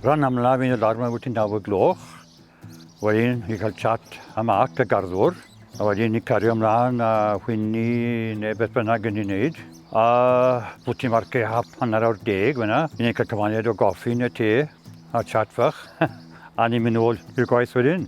Rhan amlaf yn y lar mae wedi naw y gloch. Wedyn i cael chat a mac y garddwr. A wedyn i cario ymlaen a hwyni neu beth bynnag yn ei wneud. A bwt i'n marcio hap hanner awr deg fyna. I ni'n cael cyfaniad o goffi neu te a chat fach. a ni'n mynd nôl i'r gwaith wedyn.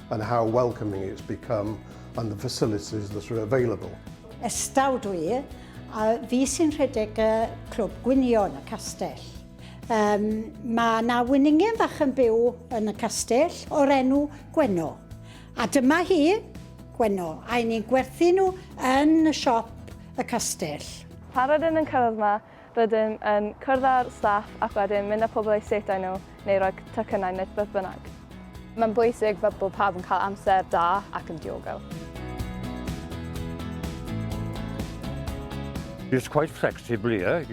and how welcoming it's become and the facilities that are available. Estaw dw i, a fi sy'n rhedeg y clwb gwynion y castell. Um, mae na wyningen fach yn byw yn y castell o'r enw Gwenno. A dyma hi, Gwenno, a ni'n gwerthu nhw yn y siop y castell. Paradyn yn cyrraedd yma, Rydym yn cwrdd â'r staff ac wedyn mynd â pobl eu setau nhw neu rhoi tocynnau neu beth bynnag. Mae'n bwysig fel bod pawb yn cael amser da ac yn diogel. It's quite flexible here.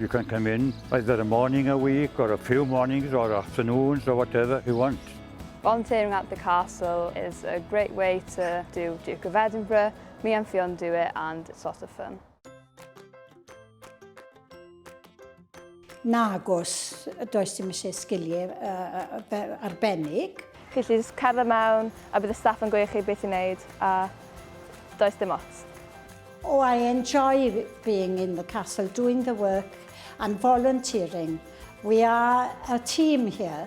You can come in either a morning a week or a few mornings or afternoons or whatever you want. Volunteering at the castle is a great way to do Duke of Edinburgh. Me and Fionn do it and it's a lot of fun. Nag os does dim eisiau sgiliau arbennig. Felly jyst cerdded mewn a bydd y staff yn gweud chi beth i wneud a does dim ots. Oh, I enjoy being in the castle, doing the work and volunteering. We are a team here.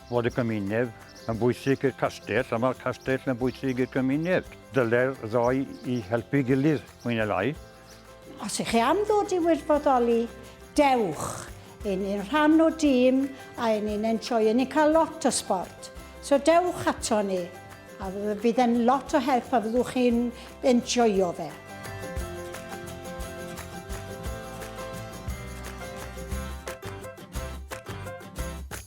fod y gymuned yn bwysig i'r castell a mae'r castell yn bwysig i'r gymuned. Dyle'r ddoi i helpu gilydd, mwy neu lai. Os ych chi am ddod i wirfoddoli, dewch! Yn ni'n rhan o dîm a yn ni'n enjoy, yn ni'n cael lot o sbort. So dewch ato ni, a fydd e'n lot o help a fyddwch chi'n enjoyo fe.